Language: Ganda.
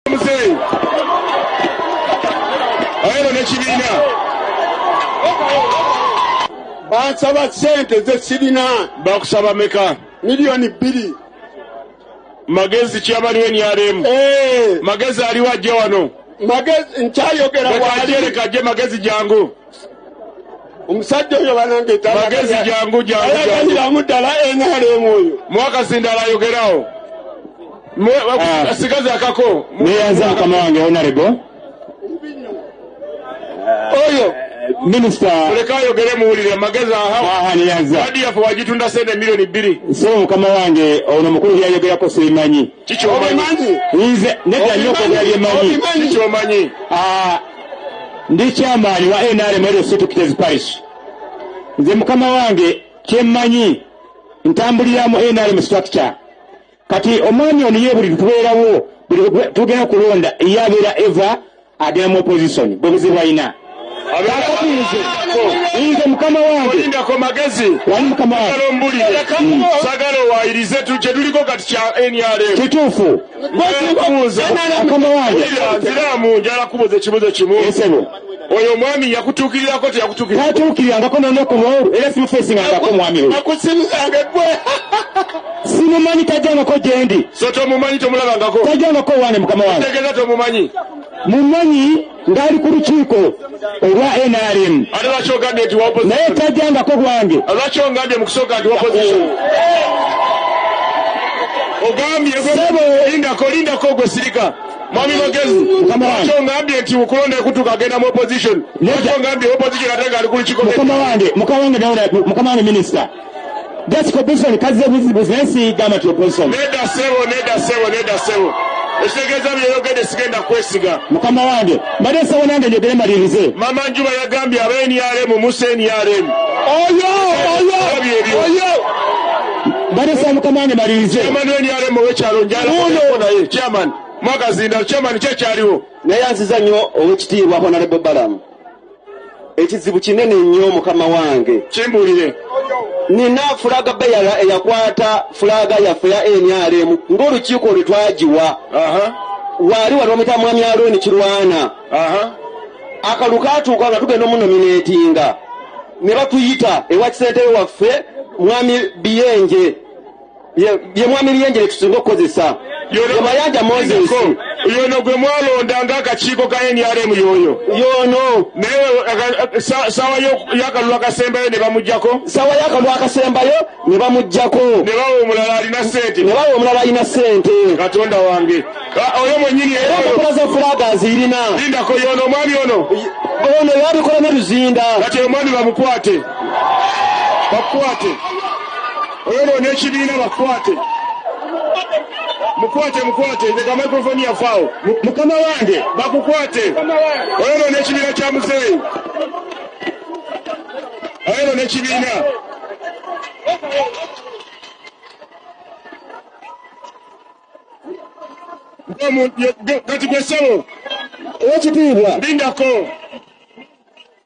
muzeeyi ayeno nekibiina bansaba sente zesirina bakusaba meka miliyoni bbiri magezi kyabaliwo enyalemu eh. magezi aliwo ajja wano magezi nkyayogera wali magezi jangu omusajja oyo banange magezi jangu jangu ddala enalemu oyo mwakasindala ayogerawo ah. sigazi akako neyaza akama wange onarebo oyo minisita leka ayogere muwulire amagezi ahaaniyaza wadi yaffe wagitunda sente miliyoni bbiri so mukama wange ono mukulu byayogerako sibimanyi kikyomanyi nedda nyo okwogera byemanyi kikyomanyi ah. ndi kyamaanyi wa nrm ezo situkitezi parish nze mukama wange kyemmanyi ntambulira mu nrm structure kati omwami ono ye buli tubeerawo tugenda kulonda eyabeera eva agenda mu opposition bwe buzibu alina nze mukama wangeindako magezi sagala owayirize kyetuliko kati kya nrm kituufu nziramu njala kubuza ekibuzo kimu oyo omwami yakutuukirirako teyakutuukirirangako nonokubo era simufesingangako omwami oyo akusirizanga gwe simumanyi tajangako gyendi so tomumanyi tomulabangako tajangako wange mukama wange tegeza tomumanyi mumanyi ngaali ku lukiiko olwa nrm naye tajjangako gwange mwami magezi kyongambye nti okulonda ekutuka agenda mu opposition kyongambye opposition ate nga ali ku lukiko mukama wange mukama wange mukama wange minisita jasiko bison kazze buzibuzi naye siyigamba nti obunson neda sebo neda sebo neda sebo ekitegeeza byeyogede sigenda kwesiga mukama wange mbadde nsaba nange njogere malirize mama njuba yagambye aba nrm musa nrm oyo oyo oyo mbadde nsaba mukama wange malirize chairman wa nrm owekyalo njalaye chairman mwakazinda chairman kyekyaliwo naye anziza nnyo owekitiibwa honarebo balamu ekizibu kinene nnyo mukama wange kimbuulire nina fulaga beyala eyakwata fulaga yaffe ya nrm ng'olukiiko lwe twagiwa waali wali omuyita mwami alooni kirwana akalu katuuka nga tugenda omunomineetinga ne batuyita ewa kisentebe waffe mwami biyenje ye mwami lyenjere tusinga okukozesa yebayanja moses yono gwe mwalonda nga akakiiko ka nrm yoyo yono naye sawa yakalulu akasembayo ne bamujjako sawa yakalulu akasembayo ne bamujjako ne bawa omulala alina sente ne bawa omulala alina sente katonda wange oyo mwenyini era empapula za fulaga azirina lindako yono omwami ono ono yabikola ne luzinda kati omwami bamukwate bakwate oyonoona ekibiina bakwate mukwate mukwate ndeka microfoni yafaawo mukama wange bakukwate oyonoona ekibiina kya muzeeyi oyonoona ekibiina kati gwesebo ekitiibwa lindako